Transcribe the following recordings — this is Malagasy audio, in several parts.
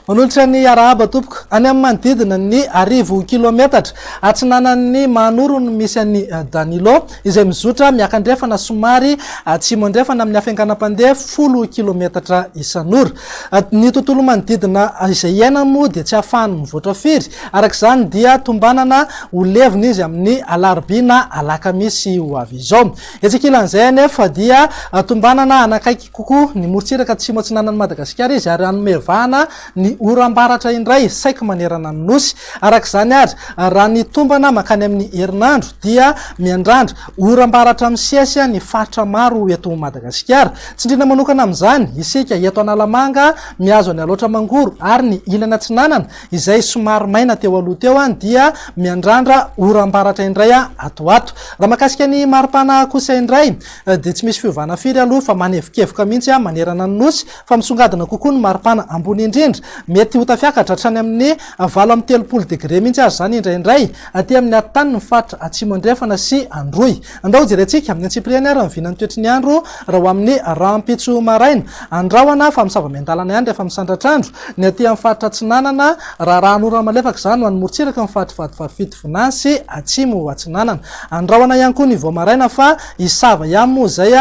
Manolotra ny arahaba tompoko any amin'ny manodidina ny arivo kilometatra atsinanan'ny Mahanoro no misy an'i eh, Danilo izay mizotra miakandrefana somary atsimo eh, andrefana amin'ny afenganam-pandeha folo kilometatra isan'ora. Eh, ny tontolo manodidina izay iaina moa dia tsy ahafahany mivoatra firy Araka izany dia tombanana ho levona izy amin'ny alarobia na alakamisy ho avy izao. Etsy ankilan'izay anefa dia tombanana hanakaiky kokoa ny morontsiraka atsimo atsinanan'i Madagasikara izy ary hanome vahana ny oram-baratra indray saiky manerana ny Nosy. Araka izany ary, raha ny tombana mankany amin'ny herinandro dia miandrandra oram-baratra misesy ny faritra maro eto Madagasikara. Tsindriana manokana amin'izany isika eto Analamanga, mihazo an'i Alaotra Mangoro ary ny ilany atsinanana Izay somary maina teo aloha teo dia miandrandra oram-baratra indray ato ho ato. Raha mahakasika ny maripana kosa indray dia tsy misy fiovana firy aloha fa manevokevoka mihitsy manerana ny Nosy fa misongadina kokoa ny maripana ambony indrindra. Mety ho tafiakatra hatrany amin'ny valo amby telopolo degre mihitsy aza izany indraindray aty amin'ny atitany ny faritra Atsimo Andrefana sy Androy. Andao jerentsika ny antsipiriany ary ny vinan'ny toetry ny andro raha ho amin'ny rahampitso maraina. Any rahona fa misava miandalana ihany rehefa misandratr'andro ny aty amin'ny faritra atsinanana. Raharahan'orana malefaka izany ho an'ny morontsiraka ny faritry Vadivavy Fitovinany sy Atsimo Atsinanana. Any rahona ihany koa ny vao maraina fa hisava ihany moa izay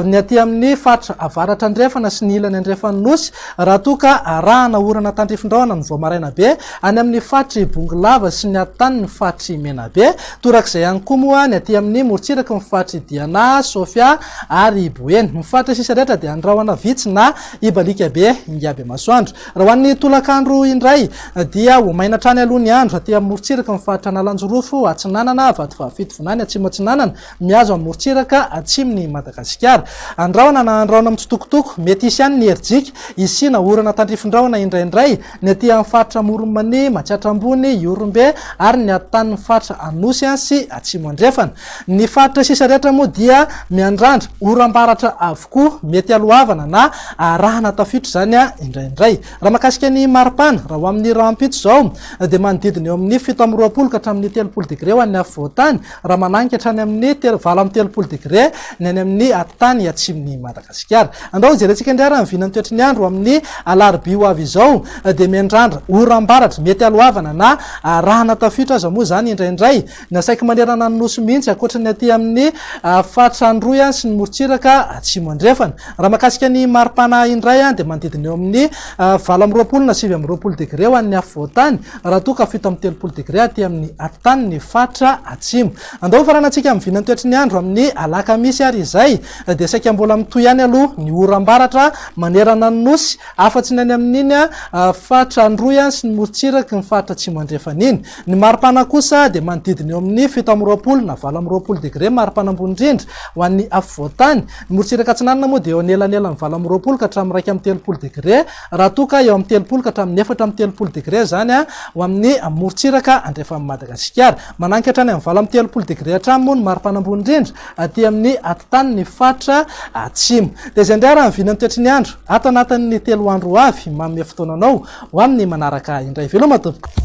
ny aty amin'ny faritra avaratra andrefana sy ny ilany andrefan'ny Nosy raha toa ka arahana orana tandrifindrahona ny vao maraina be any amin'ny faritry Bongolava sy ny atotaniny faritry Menabe. Torak'izay ihany koa moa ny aty amin'ny morontsiraky ny faritr'i Diana, Sofia ary i Boeny. Ny faritra sisa rehetra dia ny rahona vitsy na hibaliaka be ingaby masoandro. Raha ho an'ny tolakandro indray dia ho maina hatrany aloha ny andro aty amin'ny morontsiraky ny faritra Analanjirofo atsinanana, Vatovavy-Fitovinany atsimo-atsinanana mihazo amin'ny morontsiraka atsimon'i Madagasikara. Andrahona na andrahona mitsitokotoko, mety hisy ihany ny herijika hisiana orana tandrifin-drahona indraindray. ny aty amin'ny faritra Amoron'i-Mania, Matsiatra Ambony, Ihorombe ary ny antanin'ny faritra Anosy sy Atsimo Andrefana. Ny faritra sisa rehetra moa dia miandrandra oram-baratra avokoa, mety alohavana na arahana tafiotra izany indraindray. Raha mahakasika ny maripana, raha ho amin'ny rahampitso izao dia manodidina eo amin'ny fito amby roapolo ka hatramin'ny telopolo degre ho an'ny afovoan-tany, Raha manainga hatrany amin'ny valo amby telopolo degre ny any amin'ny atitany atsimon'i Madagasikara. Andao hojerentsika indray ary ny vinan'ny toetry ny andro amin'ny alarobia ho avy izao dia miandrandra oram-baratra mety haloavana na arahana tafiotra aza moa izany indraindray ny asaiky manerana ny nosy mihitsy ankoatry ny aty amin'ny faritra Androy sy ny morontsiraka atsimo andrefana. Raha mahakasika ny mari-pana indray dia manodidina eo amin'ny valo amby roapolo na sivy amby roapolo degre ho an'ny afovoan-tany Raha toa ka fito amby telopolo degre aty amin'ny atitany ny faritra atsimo. Andao hofaranantsika amin'ny vinantoetry ny andro amin'ny alakamisy ary izay dia saika mbola mitohy ihany aloha ny oram-baratra manerana ny nosy afa-tsy ny any amin'iny faritra Androy any sy ny morontsiraky ny faritra atsimo andrefana iny. Ny maripana kosa dia manodidina eo amin'ny fito amby roapolo na valo amby roapolo degre maripana ambony indrindra ho an'ny afovoan-tany. Ny morontsiraka atsinanana moa dia eo anelanelan'ny valo amby roapolo ka hatramin'ny iraika amby telopolo degre raha toa ka eo amin'ny telopolo ka hatramin'ny efatra amby telopolo degre izany ho amin'ny morontsiraka andrefan'i Madagasikara. Mananika hatrany amin'ny valo amby telopolo degre hatrany moa ny maripana ambony indrindra aty amin'ny atitany ny faritra atsimo. Dia izay indray ary ny vinan'ny toetry ny andro ato anatin'ny telo andro ho avy. Manome fotoana anao ho amin'ny manaraka indray. Veloma tompoko!